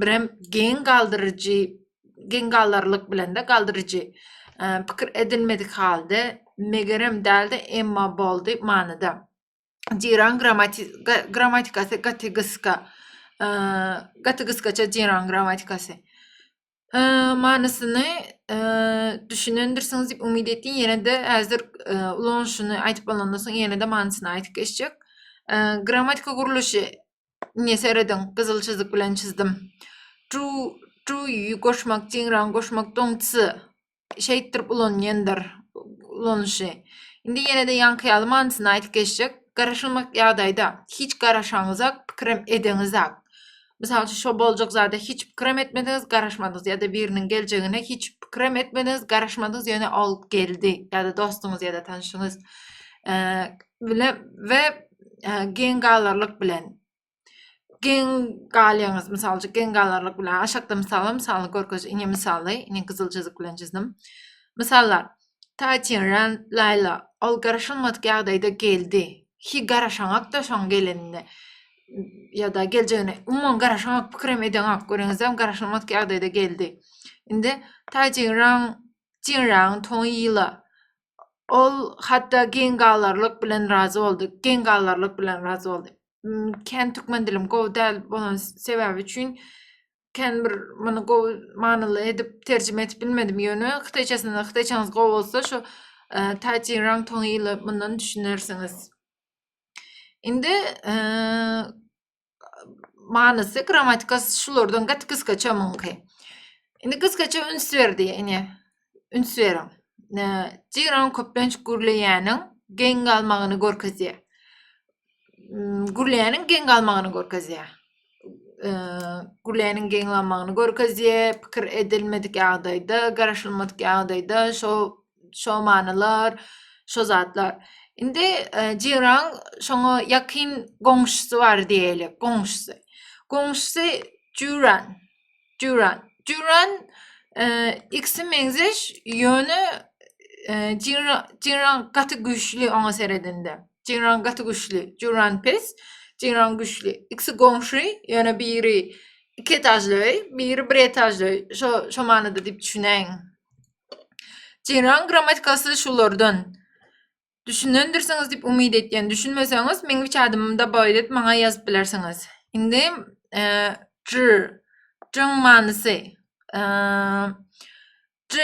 birem geň galdyryjy geň galdyrlyk bilende galdyryjy pikir edilmedik halde megerem däldi emma boldy manyda jiran grammatikasy gaty gyska gaty gyskaça jiran grammatikasy manysyny düşünendirsiňiz diýip umyt etýän. Ýene-de häzir ulanyşyny aýdyp bolandan soň ýene-de manysyny aýdyp geçjek. Grammatika gurluşy ine serediň, gyzyl çyzyk bilen çyzdym. Çu, çu goşmak, çiňran goşmak, doňçy. şeýtdirip ulanýandyr ulanyşy. Indi ýene-de ýaňky ýaly manysyny aýdyp geçsek, garaşylmadyk ýagdaýda hiç garaşaňyzak, pikirem edeňizak. Mysal üçin, şo boljak zada hiç pikirem etmediňiz, garaşmadyňyz ýa-da biriniň geljegine hiç pikirem etmediňiz, garaşmadyňyz, ýöne ol geldi ýa-da dostuňyz ýa-da tanşyňyz bile we geň galarlyk bilen Geň galýaňyz, mysal üçin, geň galarlyk bilen aşakda mysaly, mysalyny görkez, ine mysaly, ine gyzyl çyzyk bilen çizdim. Mysallar. Taýçin, Ren, Laýla. Ol garaşylmadyk ýagdaýda geldi. Hi garaşaňakda şoň gelenine. Ýa-da geljegine umuman garaşaňak pikirem edeňak. Göreňizem garaşylmadyk ýagdaýda geldi. Indi Taýçin, Ren, Jin, Ren, Toň, Ýyla. Ol hatda geň galarlyk bilen razy boldy. Geň galarlyk bilen razy boldy. Hmm, kän türkmen dilim gowy däl bolan sebäbi üçin kän bir muny gowy manyly edip terjime edip bilmedim. Ýöne hytaýçasynda hytaýçaňyz gowy bolsa şu e, Taýçi Rang Tong ýyly mundan düşünersiňiz. Indi e, manysy grammatika şulardan gaty gysgaça muňky. Indi gysgaça üns berdi ine. Üns beriň. Jiran köplenç gürleýäniň geň galmagyny görkezýär. Gürleýäniň geň galmagyny görkezýär. Gürleýäniň geň galmagyny görkezýär. Pikir edilmedik ýagdaýda, garaşylmadyk ýagdaýda şo şo manylar, şo zatlar. Indi e, Jiran şoňa ýakyn goňşusy bar diýeli, goňşusy. Goňşusy Juran. Juran. Juran e, ikisi meňzeş, ýöne e, Jiran gaty güýçli oňa seredende. Jiran gaty güýçli, Juran pes, Jiran güýçli. Ikisi goňşy, ýöne biri iki etajly öý, biri bir etajly öý. Şo şo manyda diýip düşünäýiň. Jeran grammatikasy şulardan. Düşünendirsiňiz diýip umyt etýän. Düşünmeseňiz, meň üç adymym da bar edip maňa ýazyp bilersiňiz. Indi e, j, jyň manysy. E, j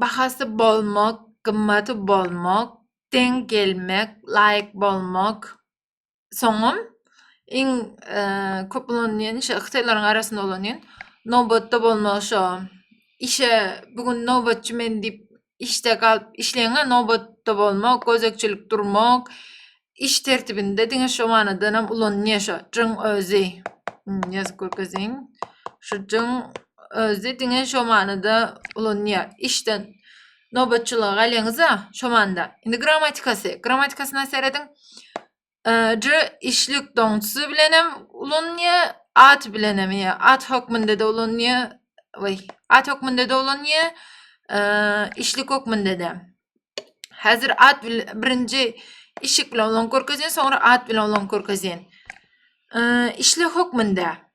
bahasy bolmak, gymmaty bolmak, deň gelmek, laýyk bolmak. soňam iň e, köp ulanylýan işe hytaýlaryň arasynda ulanýan nobatda bolmak şo işe bu gün nobatçy men diýip işde galyp işleýäňä nobatda bolmak gözegçilik durmak iş tertibinde diňe şo manydan hem ulanylýar şo jyň özi ýazyp görkeziň şu jyň özi diňe şo manyda ulanýar işden Nobatçylygy gaýleňiz-ä, şo manyda. Indi grammatikasy. Grammatikasyna serediň. J işlik doňçusy bilen hem ulanylýar, at bilen hem, ýa at hökmünde-de ulanylýar. Oý, at hökmünde-de ulanylýar, işlik hökmünde-de. Häzir at birinji işik bilen ulan görkezýän, soňra at bilen ulan görkezýän. Işlik hökmünde.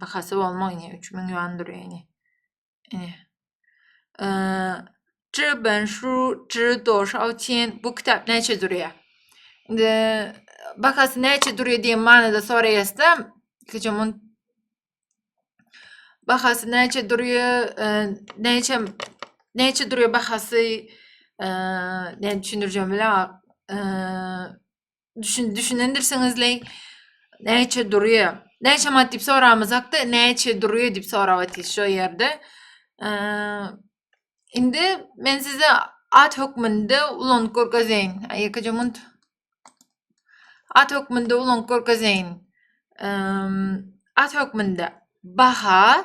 Bahasy bolmag ine 3000 ýuan durýar ine. Ine. Zhi ben shu zhi do shao tian bu kitap näçe durýar? Indi bahasy näçe durýar diýen manyda soraýasda, ilkijam on bahasy näçe durýar, näçe näçe durýar bahasy, näçe düşündirjegimi bilemok. düşün düşünendirsiňizleý näçe durýa näçe manat diýip soramyzakda näçe durýa diýip sorap atyr şu ýerde indi men size at hökmünde ulan görgezeýin ýekeje munt at hökmünde ulan görgezeýin at hökmünde baha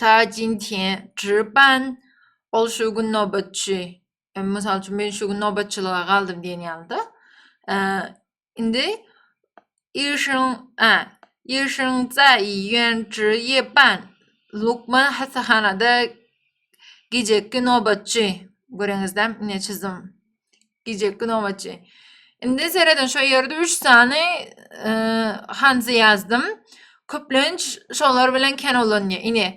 ta jin tian zhiban ol şu gün nobatçy e, mysal üçin men şu gün nobatçylyga galdym diýen ýalda e, indi işiň a işiň zai ýen zhi ye ban lukman hassahanada gijeki nobatçy göreňizde ine çizdim Gijeki nobatçy. Indi sereden şu ýerde 3 sany e, hanzy ýazdym. Köplenç şolar bilen kän ulanýar. Ine.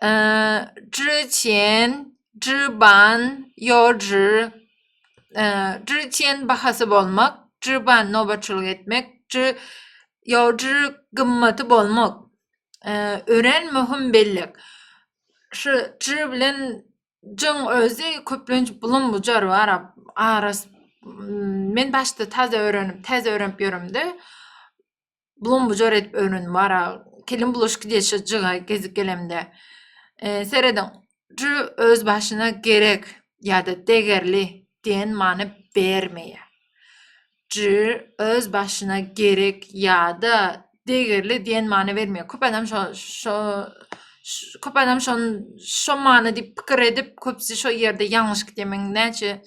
E, Zhiqian, Zhiban, Yozhi. E, Zhiqian bahasy bolmak, Zhiban nobatçylyk etmek, Yozhi gymmaty bolmak. E, ören möhüm bellik. Şu Zhi bilen Jyň özi köplenç bulum bujar bar aras men başda taze örenip täze örenip ýöremde bulum bujar edip örenim bar kelim bulaş gidýär şo jyga gezip gelemde serediň jü öz başyna gerek ýada degerli diýen many bermeýär. J öz başyna gerek ýa-da degerli diýen many bermeýär. Köp adam şo şo köp adam şon şo many diýip pikir edip, köpüsi şo ýerde ýalňyş gitýär. Men näçe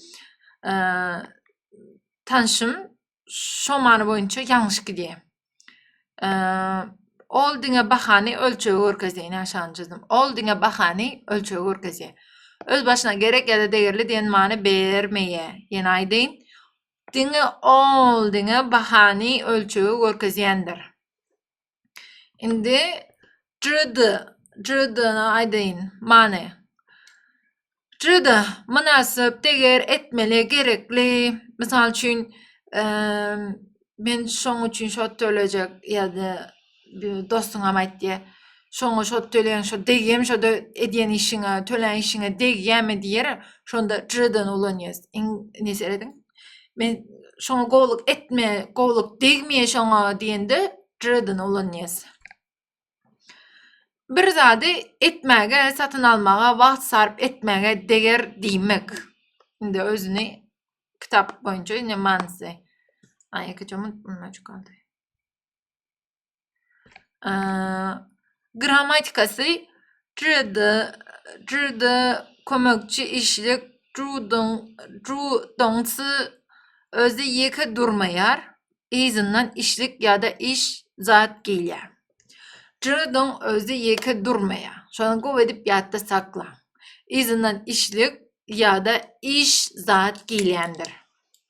tanşym şo many boýunça ýalňyş gidýär. Ol diňe bahany ölçegi görkezýär. Ine aşagyny çyzdym. Ol diňe bahany ölçegi görkezýär. Öz başyna gerek ýa-da degerli diýen many bermeýär. Ýene aýdýyn. Diňe ol diňe bahany ölçegi görkezýändir. Indi JD, JD-ni aýdaýyn many. JD mynasyp, deger, etmeli, gerekli. Mysal üçin, men şoň üçin şo tölejek ýa-da dostuňam aýt diýe. Şoňa şo töleň, şo degýämi şo edýän işiňe, tölän işiňe degýämi diýer. Şonda Jredon ulanýas. Iň ne serediň? Men şoňa gowluk etme, gowluk degmeýe şoňa diýende Jredon ulanýas. Bir zady etmäge, satyn almaga, wagt sarp etmäge deger diýmek. Indi özüni kitap boýunça ine manysy. Aý, iki çomut bundan çykaldy. Grammatikasy Trudda, trudda kömekçi işlik, trudon, trudoncy özi ýeke durmaýar, yzyndan işlik ýa-da iş zat gelýär. Trudon özi ýeke durmaýar. Şony gowy edip ýatda saklaň. Yzyndan işlik ýa-da iş zat gelýändir.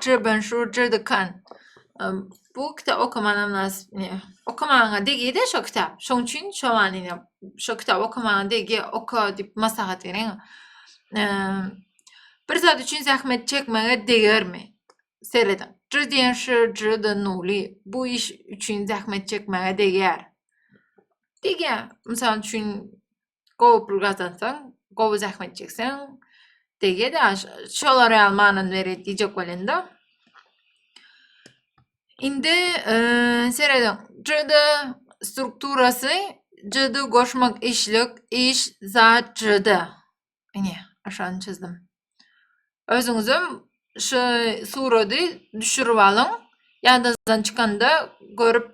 Çirbenşur Jürdikan bu kitap okamana mynasyp ne okamana degide şo kitap şoň üçin şo manyda şo kitap okamana degi oka dip maslahat berin bir zat üçin zähmet çekmege degermi seredin Jürdiýenşur Jürdi Nuly bu iş üçin zähmet çekmege deger degýär mysal üçin gowy pul gazansaň, gowy zähmet çekseň degýär ýa şolara ýaly manyny berýär diýjek welin-de. Indi serediň. CD strukturasy CD goşmak işlik iş zat CD. Ine, aşagyny çyzdym. Özüňizem şu surady düşürip alyň. Ýadazdan çykanda görüp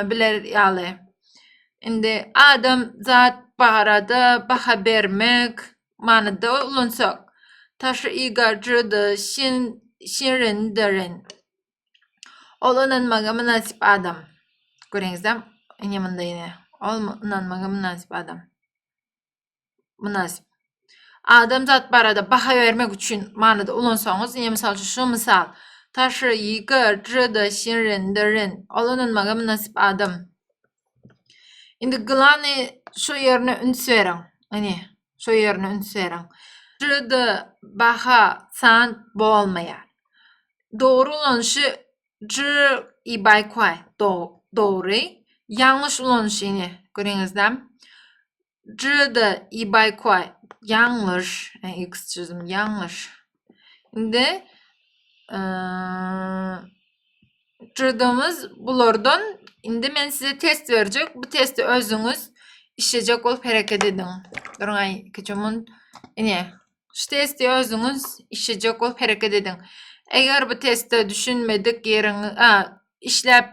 biler ýaly. Indi adam zat barada baha bermek manyda ulansak. Taşy igarjydy, şin şirindirin. Ol ynanmaga mynasyp adam. Göreňizem, ine munda ine. Ol ynanmaga mynasyp adam. mynasyp adamzat barada baha bermek üçin manyda ulansaňyz, ine, mysal üçin, şu mysal. Taşy, ýygy, jyda, şirin, derin. Ol ynanmaga mynasyp adam. Indi glany şu ýerine üns beriň. Ine, şu ýerine üns beriň. Jyda, baha, san bolmaýar. Dogry ulanyşy jy i baýkwaý, dogry. Ýalňyş ulanyşy, ine, göreňizlämi? Juda i Baýkoý. Ýalňyş. X çözüm ýalňyş. Indi Judamyz bulardan indi men size test berjek. Bu testi özüňiz işlejek bolup hereket ediň. Durňaý, kiçimun. Ine, Şu testi özüňiz işlejek bolup hereket ediň. Eger bu testde düşünmedik ýeriňi, a, işläp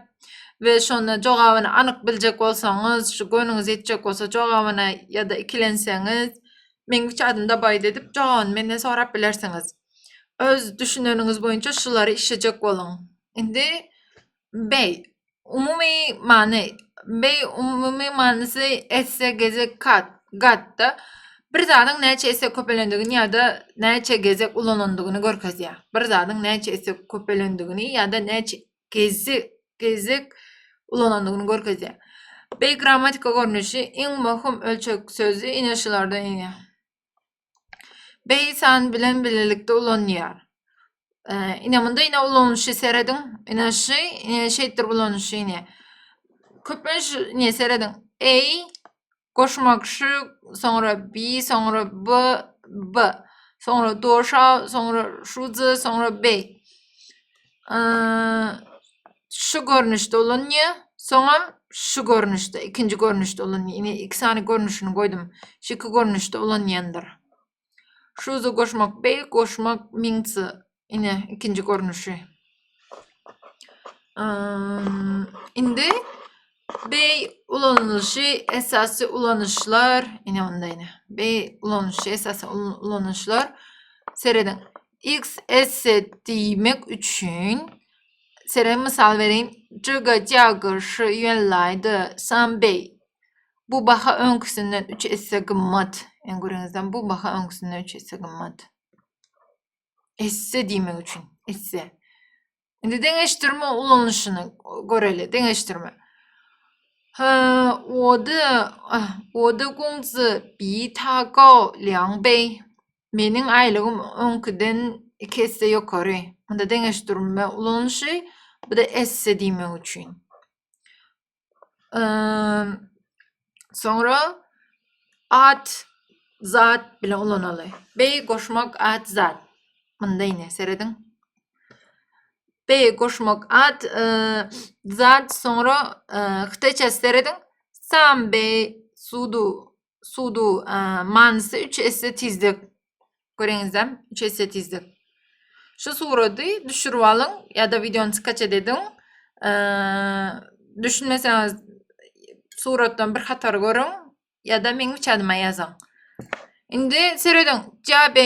we şonda jogabyny anyk biljek bolsaňyz, şu göwnüňiz ýetjek bolsa jogabyna ýa-da ikilenseňiz, Meň üç adymda baýt edip, jogabyny menden sorap bilersiňiz. Öz düşüneniňiz boýunça şulary işlejek boluň. Indi Beý, umumy many, beý, umumy manysy esse, gezek, kat, gat-da, bir zadyň näçe esse köpelendigini ýa-da näçe gezek ulanandygyny görkezýär. Bir zadyň näçe esse köpelendigini ýa-da näçe gezek ulanandygyny görkezýär. Beý grammatika görnüşi iň möhüm ölçeg sözi ine şulardan iýär. Beysan bilen bilelikde ulanýar. Ee, ine munda ine ulanyşy serediň. Ine şu ine şeýtdir ulanyşy ine. Köplenç ine serediň. Ey goşmak şu soňra bi soňra b b soňra doşa soňra şuzy soňra bey. şu görnüşde ulanýa. Soňam şu görnüşde, ikinji görnüşde ulanýa. Ine iki sany görnüşini goýdum. Şu iki görnüşde ulanýandyr. Şuzy goşmak bey, goşmak miňsi. Ine ikinji görnüşi. Indi Beý ulanylyşy esasy ulanyşlar, ine onda ine. Beý ulanyşy esasy ulanyşlar. Serediň. XS diýmek üçin Seren mysal bereýin. Jiga Jaga şu ýönlaýda Sambey. Bu baha öňküsinden 3 esse gymmat. Ýöne görüňizden bu baha öňküsinden 3 esse gymmat. Esse diýmek üçin, esse. Indi deňeşdirme ulanyşyny göreli. Deňeşdirme. He, ode, ah, ode gungzi bi ta go liang bei. Meniň aýlygym öňküden iki esse ýokary. Onda deňeşdirme ulanyşy, bu da esse diýmek üçin. Soňra at zat bilen ulanaly. Beý goşmak at zat. Munda ine serediň. Beý goşmak at e, zat soňra e, hytaýça serediň. Sam beý sudu sudu manysy 3 esse tizlik. Göreňizem 3 esse tizlik. Şu surady düşürip alyň ýa-da wideony skaçet ediň. Düşünmeseňiz suratdan bir hatar görüň ýa-da meň uçadyma ýazyň. Indi serediň, Jabe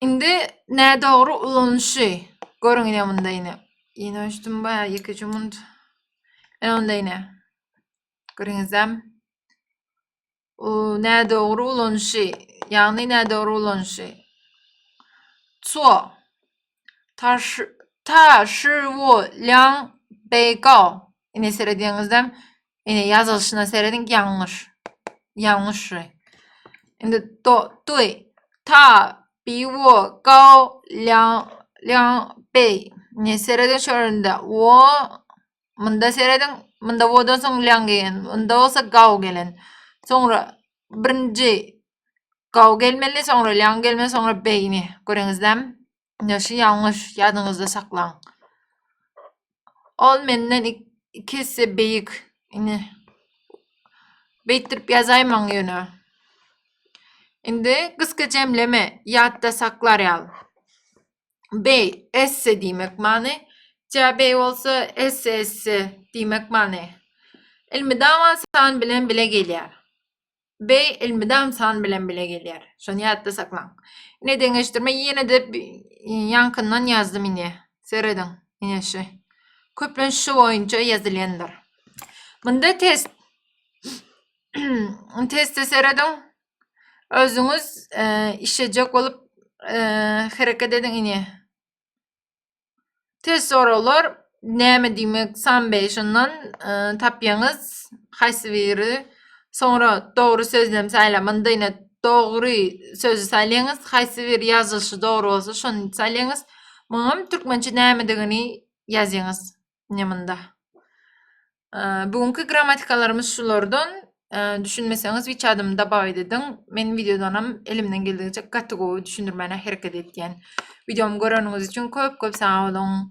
Indi nädogry ulanyşy. Görüň ine munda ine. Ýene öçdüm ba ýeke jumunt. Ene onda ine. Görüňizem. O nädogry ulanyşy. Ýagny nädogry ulanyşy. Ço. Ta şu ta şu wo liang bei gao. Ine serediňizden ine ýazylyşyna serediň ýalňyş. Ýalňyş. Indi do dui ta bi wo gao liang liang bei. Ine serediň şöründe wo munda serediň munda wodan soň liang gelen. Munda bolsa gao gelen. Soňra birinji Gawy gelmeli, soňra ýaňy gelmeli, soňra beýni. Göreňizlämi? Ýa şu ýalňyş, ýadyňyzda saklaň. Ol menden iki esse beýik. Indi beýtdirip ýazaýmaň ýöne. Indi gysga jemleme, ýatda saklar ýal. Bey, esse diýmek many. Cäbey bolsa esse esse diýmek many. Ilmidam Asan bilen bile gelýär. Bey Ilmidam San bilen bile gelýär. Şony ýatda saklaň. Ine deňeşdirme ýene-de ýaňkyndan ýazdym ine. Serediň. Ine şu. Köplenç şu boýunça ýazylýandyr. Munda test. Teste serediň. Özüňiz e, işlejek bolup e, hereket ediň ini. Test soraglar näme diýmek sambe şondan e, tapýaňyz haýsy biri soňra dogry sözlem saýlaň mundayna dogry sözü saýlaýaňyz haýsy bir ýazylyşy dogry bolsa şony saýlaýaňyz muňam türkmençe nämedigini ýazýaňyz Nemynda. Bu günki grammatikalarymyz şulardan. Düşünmeseňiz wiç adymy dabaw ediň. Men videodanam elimden geldigiçe gaty gowy düşündirmäne hereket etýän. Videomy göreniňiz üçin köp-köp sag boluň.